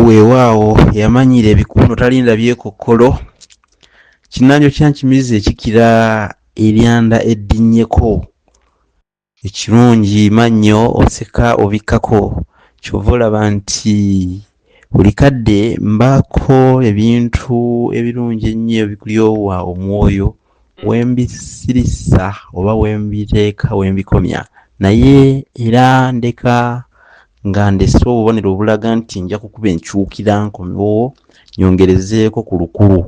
Weewaawo yamanyiira ebikuuno talinda byekokkolo. Kinnanjo kya nkimizi ekikira eryanda eddinnyeko. Ekirungi mannyo oseka obikkako ky'ova olaba nti buli kadde mbaako ebintu ebirungi ennyo ebikulyowa omwoyo. wembisirisa oba wembiteeka wembikomya naye era ndeka nga ndese obubonero obulaga nti nja kukuba enkyukira nkomewo nyongerezeeko ku lukulu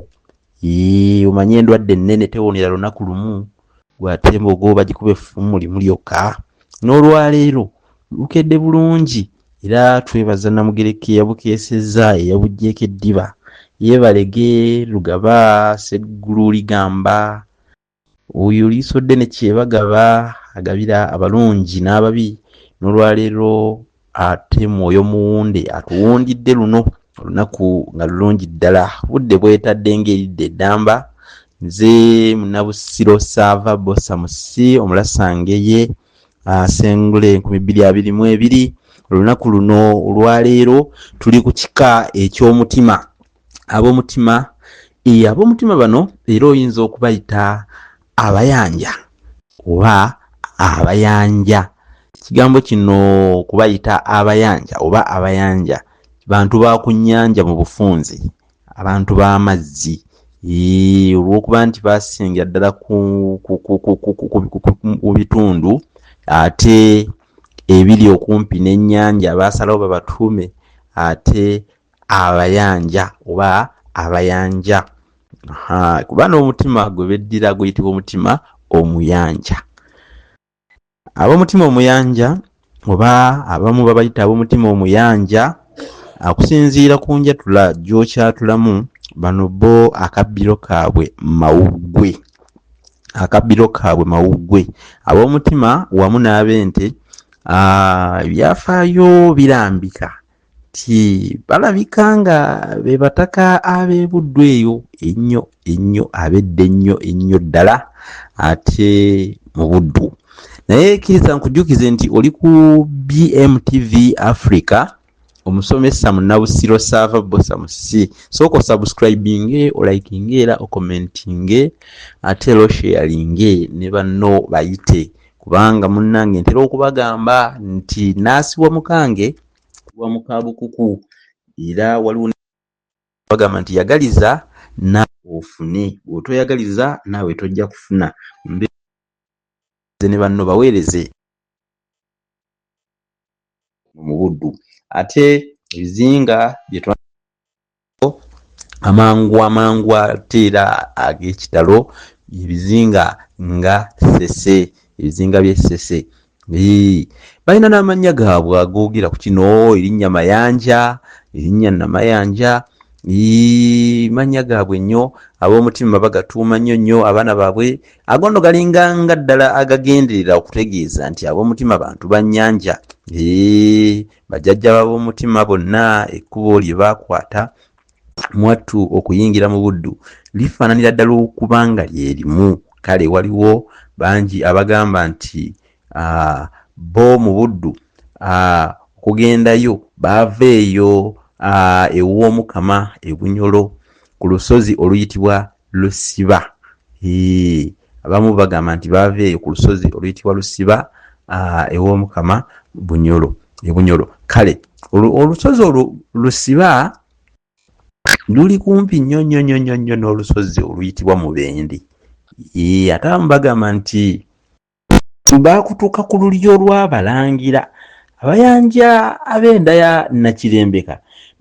omanye endwadde ennene tewonera lunaku lumu gwate embogo bagikuba effumu limu lyokka n'olwaleero lukedde bulungi era twebaza namugereka eyabukeesezza eyabuggyeko eddiba yeebalege lugaba seggulu ligamba oyo liiso ddene kyebagaba agabira abalungi n'ababi n'olwaleero ate mwoyo muwunde atuwundidde luno olunaku nga lulungi ddala budde bwetadde ng'eridde eddamba nze munabusiro saava bosamusi omulasange ye asengula enkumi bbiri abiri mu ebiri olunaku luno olwaleero tuli ku kika eky'omutima ab'omutima e ab'omutima bano era oyinza okubayita abayanja oba abayanja ekigambo kino kubayita abayanja oba abayanja bantu ba ku nnyanja mu bufunzi abantu b'amazzi olw'okuba nti baasingira ddala ku bitundu ate ebiri okumpi n'ennyanja baasalawo babatuume ate abayanja oba abayanja kuba n'omutima gwe beddira guyitibwa omutima omuyanja ab'omutima omuyanja oba abamu babayita ab'omutima omuyanja akusinziira ku njatula gy'okyatulamu bano bo akabbiro kaabwe mawuggwe akabbiro kaabwe mawuggwe ab'omutima wamu n'ab'ente ebyafaayo birambika ti balabika nga be bataka ab'ebuddu eyo ennyo ennyo abedda ennyo ennyo ddala ate mu buddu naye kkiriza nkujjukize nti oli ku bmtv africa omusomesa munabusiro saava bosa musi sooka osubscribinge olikinge era okomentinge ate era osheyalinge ne banno bayite kubanga munnange ntera okubagamba nti naasibwa mukange kuba mukabukuku era waliwo bagamba nti yagaliza naawe ofune bw'otoyagaliza naawe tojja kufuna ne banno baweereze mu buddu ate ebizinga byetwa amangu amangu ate era ag'ekitalo ebizinga nga sese ebizinga by'e sese balina n'amannya gaabwe agoogera ku kino erinnya mayanja erinnya namayanja mannya gaabwe nnyo ab'omutima bagatuuma nnyo nnyo abaana baabwe agono galinga nga ddala agagenderera okutegeeza nti ab'omutima bantu bannyanja Bajjajja b'ab'omutima bonna ekkubo lye baakwata mwattu okuyingira mu Buddu lifaananira ddala okuba nga lye limu. Kale waliwo bangi abagamba nti ah, bo mu Buddu ah, okugendayo baava eyo ah, ew'Omukama e Bunyolo ku lusozi oluyitibwa lusiba abamu bagamba nti baava eyo ku lusozi oluyitibwa lusiba ew'omukama bunyolo ebunyolo kale olusozi olwo lusiba luli kumpi nnyo nnyo nnyo nnyo nnyo n'olusozi oluyitibwa mubendi ate abamu bagamba nti baakutuuka ku lulyo lw'abalangira abayanja ab'enda ya nakirembeka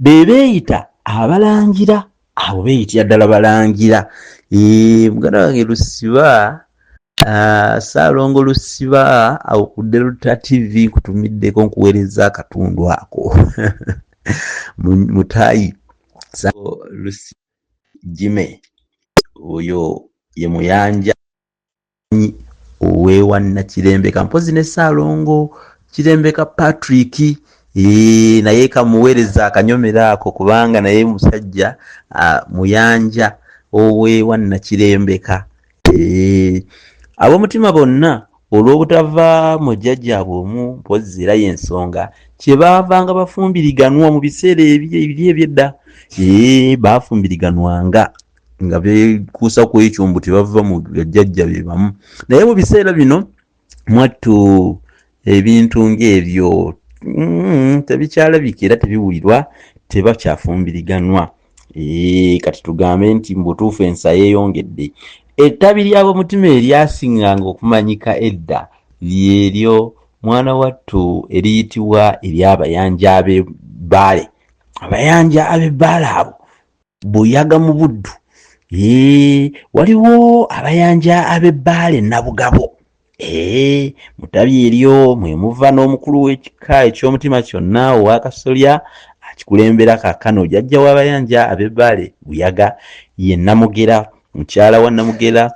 be beeyita abalangira abo beeyitira ddala balangira muganda wange lusiba saalongo lusiba awo ku delta tv nkutumiddeko nkuweereza akatundu ako mutayi lusi jime oyo ye muyanja owewa nakirembeka mpozi ne saalongo kirembeka patrick Eee, naye kamuweereza akanyomero ako kubanga naye musajja muyanja owewa nakirembeka ab'omutima bonna olw'obutava mu jjajjaabwe omu mpozzi era y'ensonga kye baavanga bafumbiriganwa mu biseera ebiri ebyedda ee baafumbiriganwanga nga bekuusa ku ekyo mbu tebava mu jajja be bamu naye mu biseera bino mwattu ebintu ng'ebyo mm, tebikyalabika era tebiwulirwa tebakyafumbiriganwa kati tugambe nti mubutuufu ensa yeeyongedde ettabi ly'abomutima eryasinganga okumanyika edda lyeryo mwana wattu eriyitibwa ery'abayanja abe bbaale abayanja abe bbaale abo buyaga mu buddu ee waliwo abayanja ab'ebbaale nabugabo ee mutabi eryo mwe muva n'omukulu w'ekika eky'omutima kyonna ow'akasolya akikulembera kakano jajja w'abayanja ab'ebbaale buyaga ye namugera mukyala wa namugera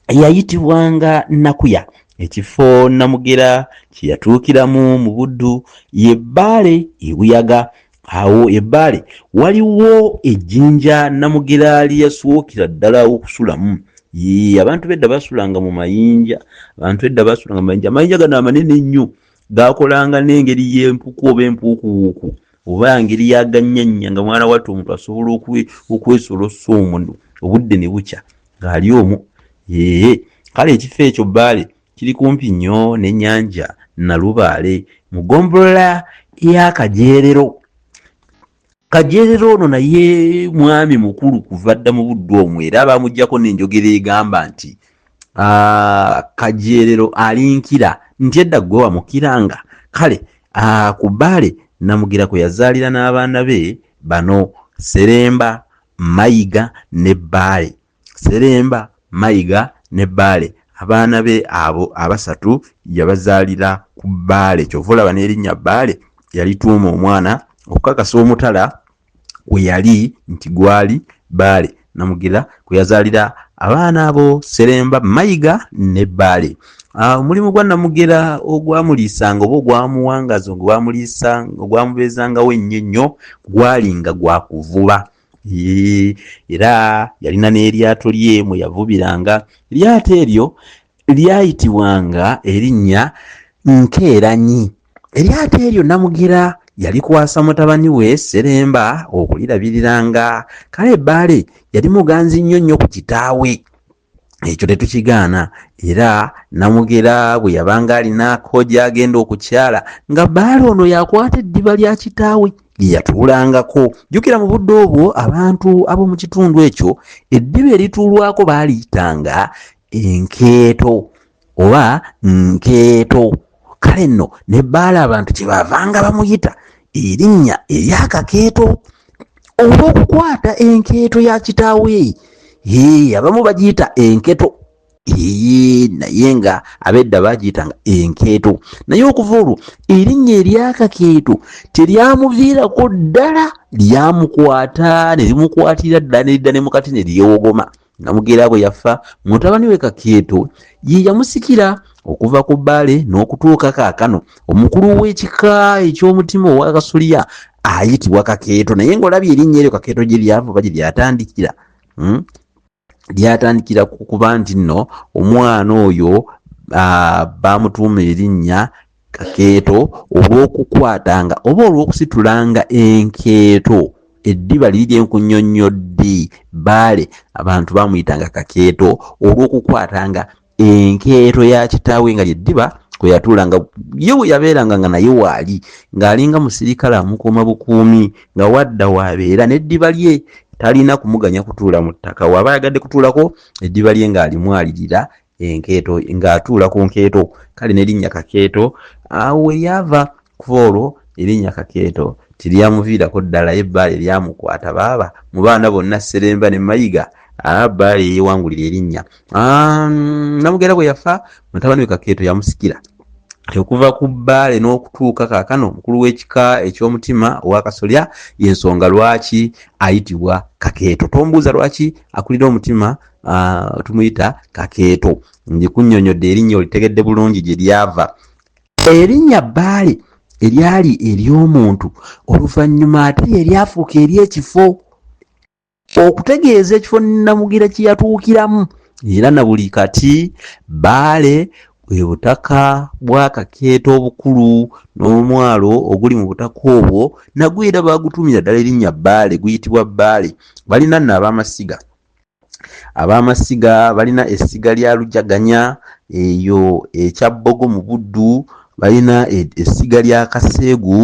yayitibwanga nakuya ekifo namugera kye yatuukiramu mu buddu ye bbaale ebuyaga awo ebbaale waliwo ejjinja namugeraali yaswokira ddala okusulamu yii abantu bedda basulanga mu mayinja abantu edda basulanga mu mayinja amayinja gano amanene ennyo gakolanga n'engeri y'empuku oba empuukuwuuku oba ngeri yaganyanya nga mwana watu omuntu asobola okwesolosa omu obudde ne bukya ng'ali omu ee kale ekifo ekyo bbaale Kiri kumpi nnyo n'ennyanja Nalubaale mu ggombolola ya Kajeerero. Kajeerero ono naye mwami mukulu kuva dda mu buddu omwo era baamugyako n'enjogera egamba nti ah, Kajeerero alinkira nti edda ggwe wamukiranga. Kale ah, ku Bbaale Namugira kwe yazaalira n'abaana be bano, Sseremba, Mayiga ne Bbaale. Sseremba, Mayiga ne Bbaale abaana be abo abasatu yabazaalira ku Bbaale ky'ova olaba n'erinnya Bbaale yalituuma omwana okukakasa omutala kwe yali nti gwali Bbaale Namugira kwe yazaalira abaana abo Sseremba, Mayiga ne Bbaale. Ah, omulimu gwa namugera ogwamuliisanga oba ogwamuwangaza ogwamuliisa ogwamubeezangawo ennyo ennyo gwalinga gwa kuvuba era yalina n'eryato lye mwe yavubiranga eryato eryo lyayitibwanga erinnya nkeeranyi eryato eryo namugera yalikwasa mutabani we seremba okulirabiriranga kale bbaale yali muganzi nnyo nnyo ku kitaawe ekyo tetukigaana era namugera bwe yabanga alinaako gy'agenda okukyala nga bbaala ono yakwata eddiba lya kitaawe lye yatuulangako jjukira mu budde obwo abantu ab'omu kitundu ekyo eddiba erituulwako baaliyitanga enkeeto oba nkeeto kale nno ne bbaala abantu kye baavanga bamuyita erinnya eryakakeeto olw'okukwata enkeeto ya kitaawe ee abamu bagiyita enketo ee naye nga abedda baagiyitanga enkeeto naye okuva olwo erinnya eryakakeeto teryamuviirako ddala lyamukwata ne limukwatirira ddala ne lidda ne mukati ne lyewogoma Namugeera bwe yafa, mutabani we Kakyeto ye yamusikira okuva ku bbaale n'okutuuka kaakano. Omukulu w'ekika eky'omutima ow'akasolya ayitibwa Kakeeto naye ng'olabye erinnya eryo Kakeeto gye lyava oba gye lyatandikira hmm? lyatandikira ku kuba nti nno omwana oyo baamutuuma erinnya kakeeto olw'okukwatanga oba olw'okusitulanga enkeeto eddiba liri lye nkunyonnyoddi baale abantu bamuyitanga kakeeto olw'okukwatanga enkeeto ya kitaawe nga lyeddiba kwe yatuulanga ye we yabeeranga nga naye waali ng'alinga musirikale amukuuma bukuumi nga wadda waabeera n'eddiba lye talina kumuganya kutuula mu ttaka waaba ayagadde kutuulako eddiba lye ng'alimwalirira enkeeto ng'atuula ku nkeeto kale nerinnya kakeeto awo weryava kuva olwo erinnya kakeeto teryamuviirako ddala ye bbaale lyamukwata baaba mu baana bonna sseremba ne mayiga bbaale yeyewangulira erinnya namugera bwe yafa mutabani we kakeeto yamusikira okuva ku bbaale n'okutuuka kaakano omukulu w'ekika eky'omutima owakasolya yensonga lwaki ayitibwa kakeeto tombuuza lwaki akulira omutima uh, tumuyita kakeeto njikunyonyodde erinnya olitegedde bulungi gye lyava erinnya bbaale eryali ery'omuntu oluvannyuma ate eryafuuka ery'ekifo okutegeeza ekifo namugira kye yatuukiramu era na buli kati bbaale bwe butaka bwa kakeeta obukulu n'omwalo oguli mu butaka obwo nagwo era baagutumira ddala erinnya bbaale guyitibwa bbaale balina nno ab'amasiga Ab'amasiga balina essiga lya Lujaganya, eyo e Kyabbogo mu Buddu balina e- essiga lya Kaseegu,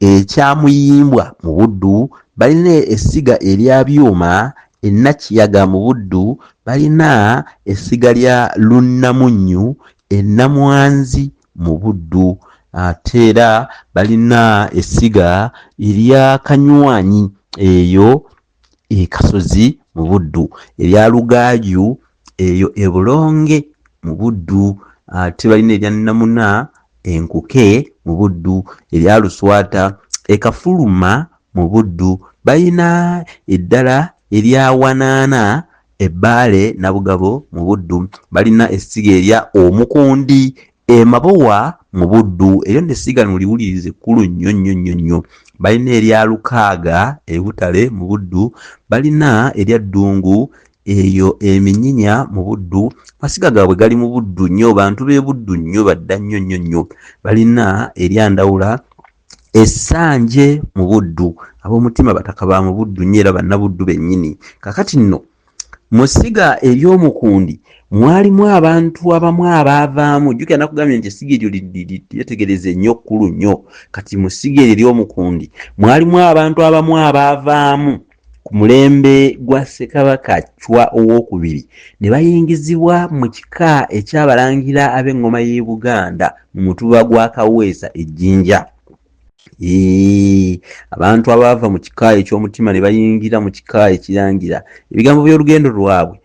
e Kyamuyimbwa mu Buddu balina essiga erya Byuma, e Nakiyaga mu Buddu balina essiga lya Lunnamunnyu, e Namwanzi mu Buddu ate era balina essiga erya Kanywanyi, eyo e Kasozi mu Buddu, erya Lugaaju eyo e Bulonge mu Buddu, ate balina erya Namuna enkuke mu Buddu, erya Luswata e Kafuluma mu Buddu, balina eddala erya Wanaana e Bbaale Nabugabo mu Buddu, balina essiga erya Omukundi Emabowa mu Buddu, eryo nno essiga nuliwulirize kkulu nnyo nnyo nnyo nnyo. Balina erya Lukaaga e Butale mu Buddu, balina erya Ddungu eyo e Minyinya mu Buddu. Amasiga gaabwe gali mu Buddu nnyo, bantu b'e Buddu nnyo, badda nnyo nnyo nnyo. Balina erya Ndawula. Essanje mu Buddu, ab'omutima bataka ba mu Buddu nnyo era Bannabuddu bennyini. Kakati nno, mu ssiga ery'omukundi mwalimu abantu abamu abaavaamu, jjukira nakugambye nti essiga eryo lyetegereza ennyo kkulu nnyo, kati mu ssiga eryo ery'omukundi mwalimu abantu abamu abaavaamu. ku mulembe gwa Ssekabaka Chwa ow'okubiri ne bayingizibwa mu kika eky'abalangira ab'eŋŋoma y'e Buganda mu mutuba gwa Kaweesa e Jinja. Eee, abantu abaava mu kika eky'omutima ne bayingira mu kika ekirangira ebigambo by'olugendo lwabwe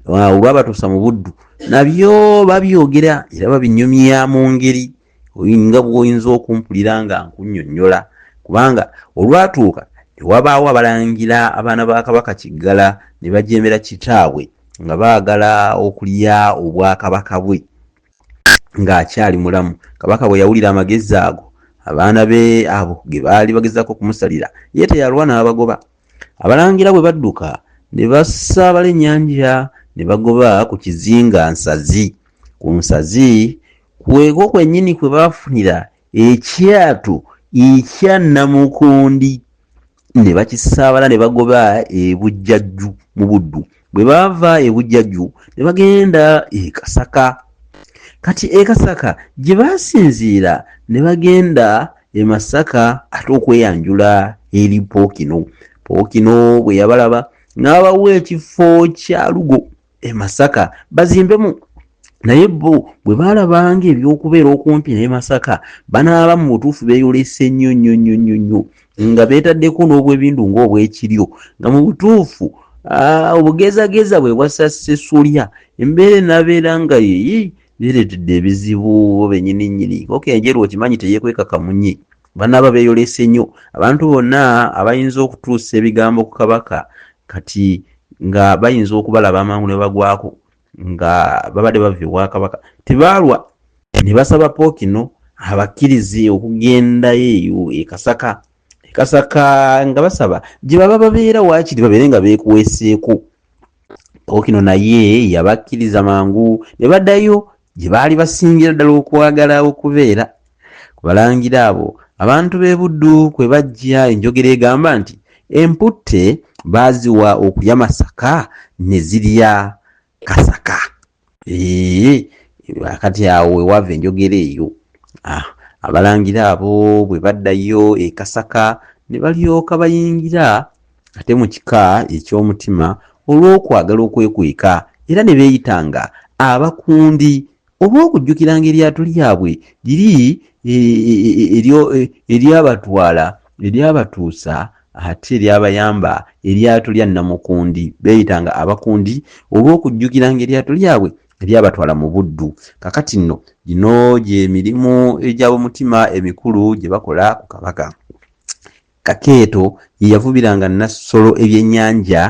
olwabatuusa mu Buddu nabyo babyogera era babinyumya mu ngeri nga bwoyinza okumpulira nga nkunyonyola kubanga olwatuuka newabaawo abalangira abaana ba kabaka kiggala ne bajemera kitaabwe nga baagala okulya obwakabaka bwe ng'akyali mulamu kabaka bwe yawulira amagezi ago abaana be abo ge baali bagezaako okumusalira ye teyalwa n'abagoba Abalangira bwe badduka ne basaabala ennyanja ne bagoba ku kizinga Nsazi. Ku Nsazi kweko kwennyini kwe baafunira ekyatu ekya Namukundi ne bakisaabala ne bagoba e Bujjajju mu Buddu. bwe baava e Bujjaju ne bagenda e Kasaka kati e Kasaka gye baasinziira ne bagenda e Masaka ate okweyanjula eri Pookino Pookino bwe yabalaba n'abawa ekifo kya Lugo e Masaka bazimbemu naye bo bwe baalabanga ebyokubeera okumpi ne masaka banaaba mu butuufu beeyolese nnyo nnyo nnyo nnyo nnyo nga beetaddeko n'obwebindu ng'obwekiryo nga mu butuufu obugezageza bwe bwassa sesulya embeera enabeera nga yeyi beereetedde ebizibu bo benyini nyini oka enjeru okimanyi teyekweka kamunye banaaba beeyolese nnyo abantu bonna abayinza okutuusa ebigambo ku kabaka kati nga bayinza okubalaba amangu ne bagwako nga babadde bava ewa kabaka tebaalwa ne basaba pookino abakkirize okugendayo eyo ekasaka ekasaka nga basaba gye baba babeera waakiri babeere nga beekuweeseeko pookino naye yabakkiriza mangu ne baddayo gye baali basingira ddala okwagala okubeera Ku balangira abo abantu b'e Buddu kwe bajja enjogera egamba nti emputte baaziwa okulya masaka ne zirya kasaka. Eeh, kati awo we wava enjogera eyo. Ah, abalangira abo bwe baddayo e Kasaka ne balyoka bayingira ate mu kika eky'omutima olw'okwagala okwekweka era ne beeyitanga abakundi oba okujjukiranga eryato lyabwe liri e, e, e, eryabatwala eryabatuusa ate eryabayamba eryato lya namukundi beeyitanga abakundi oba okujjukiranga eryato lyabwe eryabatwala mu buddu kakati nno gino gyemirimu egy'abomutima emikulu gye bakola ku kabaka Kakeeto ye yavubiranga Nassolo ebyennyanja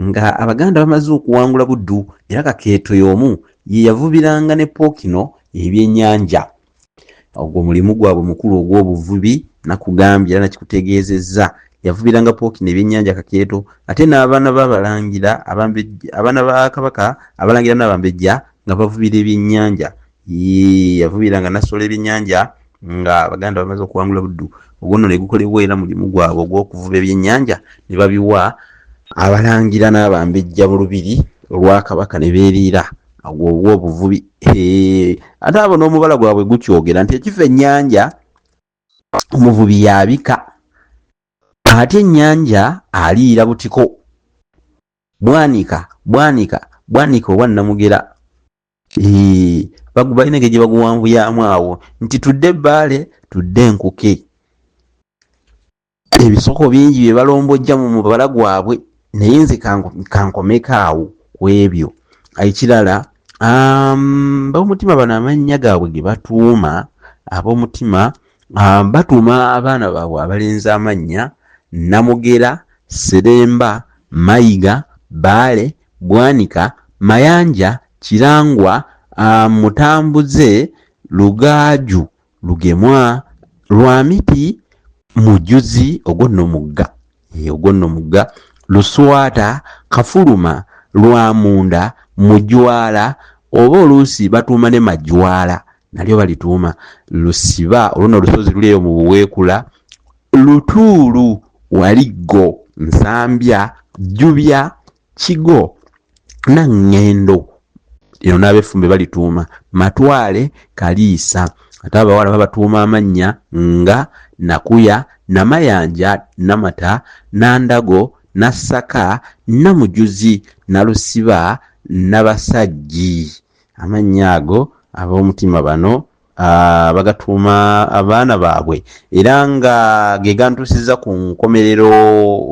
nga Abaganda bamaze okuwangula Buddu era Kakeeto y'omu ye yavubiranga ne Pookino ebyennyanja. Ogwo mulimu gwabwe mukulu ogw'obuvubi nakugambye era nakikutegeezezza. Yavubiranga Pookino ebyennyanja Kakeeto ate n'abaana b'Abalangira, Abaana ba Kabaka, Abalangira n'Abambejja nga bavubira ebyennyanja. Yii, yavubira nga nasola ebyenyanja nga abaganda bamaze okuwangula buddu ogwo nno ne gukolebwa era mulimu gwabwe ogw'okuvuba ebyenyanja ne babiwa abalangira n'abambejja mu lubiri olwa kabaka ne beeriira agwo obuvubi ate abo n'omubala gwabwe gukyogera nti ekifa ennyanja omuvubi yabika ate ennyanja aliira butiko bwanika bwanika bwanika oba namugera balina engeri gye baguwanvuyamu awo nti tudde ebbaale tudde enkuke ebisoko bingi bye balombojja mu mubala gwabwe naye nze kankomeko awo ku ebyo ekirala um, baomutima bano amannya gaabwe ge batuuma ab'omutima um, batuuma abaana baabwe abalenzi amannya namugera seremba mayiga baale Bwanika, Mayanja, Kirangwa, Mutambuze, Lugaaju, Lugemwa, Lwamiti, Mujuzi, ogwo nno mugga, eeh, ogwo nno mugga, Luswata, Kafuluma, Lwamunda, Mujwala oba oluusi batuuma ne Majwala nalyo balituuma, Lusiba, olwo nno olusozi luli eyo mu Buweekula, Lutuulu, Waliggo, Nsambya, Jjubya, Kigo, Naŋŋendo eno n'abefumbe balituuma Matwale, Kaliisa ate abawala babatuuma amannya nga Nakuya, Namayanja, Namata, Nandago, Nassaka, Namujuzi, Nalusiba, Nabasajji. Amannya ago ab'omutima bano Ah, bagatuuma abaana baabwe era nga ge gantuusiza ku nkomerero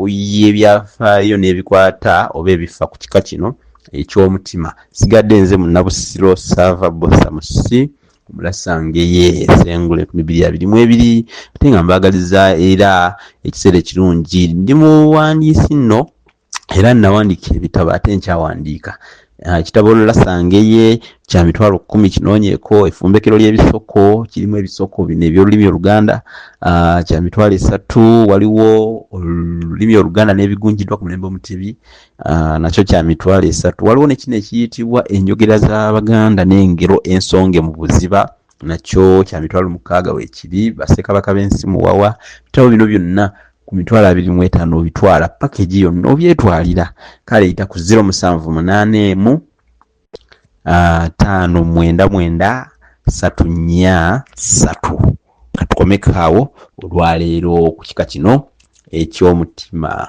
y'ebyafaayo n'ebikwata oba ebifa ku kika kino eky'omutima sigadde nze munabusiro saava bosa musi mulasange ye esengule ku mibiri abiri mu ebiri ate nga mbaagaliza era ekiseera ekirungi ndi muwandiisi nno era nawandiika ebitabo ate nkyawandiika ah, ekitabo olala sangeye kya mitwalo kumi kinoonyeko efumbekero ly'ebisoko kirimu ebisoko bino ebyolulimi oluganda ah, kya mitwalo esatu waliwo olulimi oluganda n'ebigunjiddwa ku mulembe omutebi ah, nakyo kya mitwalo esatu waliwo nekino ekiyitibwa enjogera z'abaganda n'engero ensonge mu buziba nakyo kya mitwalo mukaaga wekibi basekabaka b'ensi muwawa bitabo bino byonna ku mitwalo abiri mu etaano obitwala pakeji yonna obyetwalira kale yita ku ziro musanvu munaana emu ah, taano mwenda mwenda satu nnya satu katukomekaawo olwaleero ku kika kino ekyomutima